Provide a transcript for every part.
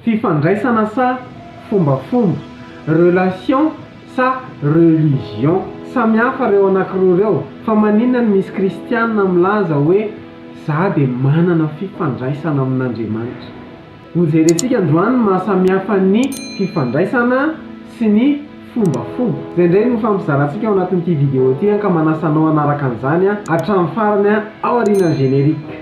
Fifandraisana sa fombafomba, relation sa religion, samy hafa reo anakiroa reo, fa maninona no misy kristianina milaza hoe za dia manana fifandraisana amin'Andriamanitra? Ho jerentsika androany ny maha samy hafa ny fifandraisana sy ny fombafomba. Izay indray no hifampizarantsika ao anatin'ity video ity an, ka manasa anao hanaraka an'izany hatramin'ny farany ao aorianan'ny générique.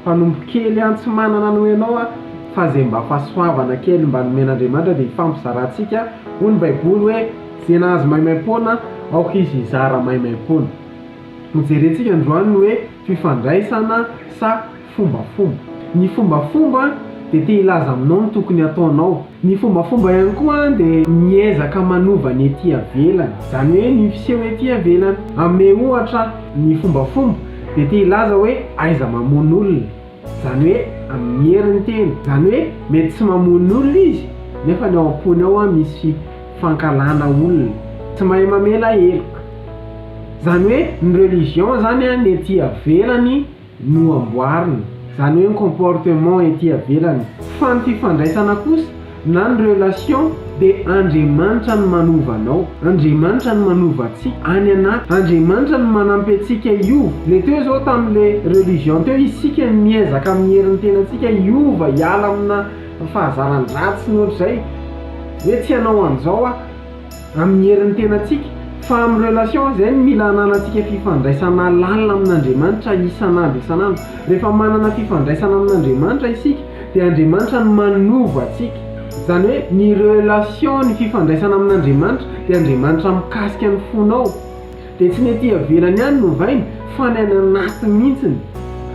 Mpanompo kely an tsy manana noho ianao aho fa izay mba fahasoavana kely mba nomen'Andriamanitra dia hifampizarantsika, hoy ny baiboly hoe izay nahazo maimaimpoana aoka izy hizara maimaimpoana. Hojerentsika androany ny hoe fifandraisana sa fombafomba. Ny fombafomba dia te hilaza aminao ny tokony hataonao. Ny fombafomba ihany koa dia miezaka manova ny ety iavelany, izany hoe ny fiseho ety iavelany. Hanome ohatra ny fombafomba dia te hilaza hoe aiza mamono olona, izany hoe amin'ny herin'ny tena. Izany hoe mety tsy mamono olona izy nefa ny ao am-pony ao misy fankahalana olona. Tsy mahay mamela heloka. Izany hoe ny religion izany ny ety iavelany. no amboarina, zany hoe ny comportement ety avelany, fa ny fifandraisana kosa na ny relation dia Andriamanitra no manova anao, Andriamanitra no manova antsika any anaty, Andriamanitra no manampy antsika hiova, le teo zao tamin'le religion teo isika no miezaka amin'ny herin'ny tenantsika hiova hiala amina fahazaran-dratsy ny ohatr'izay, hoe tsy hanao an'izao aho. amin'ny herin'ny tenantsika, fa amin'ny relation izay no mila hananantsika fifandraisana lalina amin'Andriamanitra isan'andro isan'andro. Rehefa manana fifandraisana amin'Andriamanitra isika dia Andriamanitra no manova antsika. Izany hoe ny relation, ny fifandraisana amin'Andriamanitra dia Andriamanitra mikasika ny fonao dia tsy ny aty avelany ihany no ovainy fa ny any anaty mihitsiny.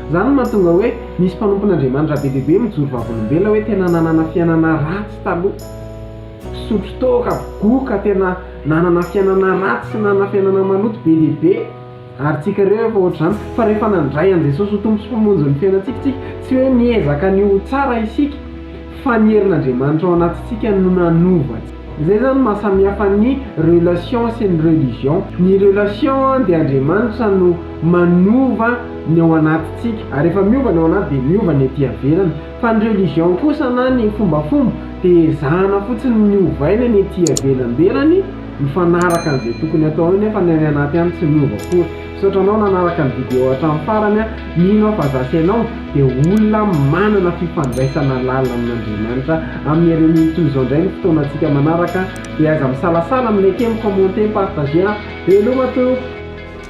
Izany no mahatonga hoe misy mpanompon'Andriamanitra be dia be mijoro vavolombelona hoe tena nanana fiainana ratsy taloha. Nisotro toaka avokoa ka tena nanana fiainana ratsy sy nanana fiainana maloto be dia be ary tsy hikareo efa ohatr'izany fa rehefa nandray an'i Jesosy ho Tompo sy Mpamonjy ny fiainantsika isika tsy hoe niezaka ny ho tsara isika fa ny herin'Andriamanitra ao anatintsika no nanova antsika. Izay izany no maha samihafa ny relation sy ny religion. Ny relation dia Andriamanitra no manova ny ao anatintsika ary rehefa miova ny ao anaty dia miova ny ety iavelany. Fa ny religion kosa na ny fombafomba dia ezahana fotsiny ny ovaina ny ety ivelamberany mifanaraka an'izay tokony atao eo nefa ny any anaty any tsy miova akory. Misaotra anao nanaraka ny video hatramin'ny farany an, mino aho fa za sy ianao dia olona manana fifandraisana lalina amin'Andriamanitra. Amin'ny reniny toy izao indray ny fotoanantsika manaraka dia aza misalasala mineke, mi-commenter, partager an! Veloma tompoko!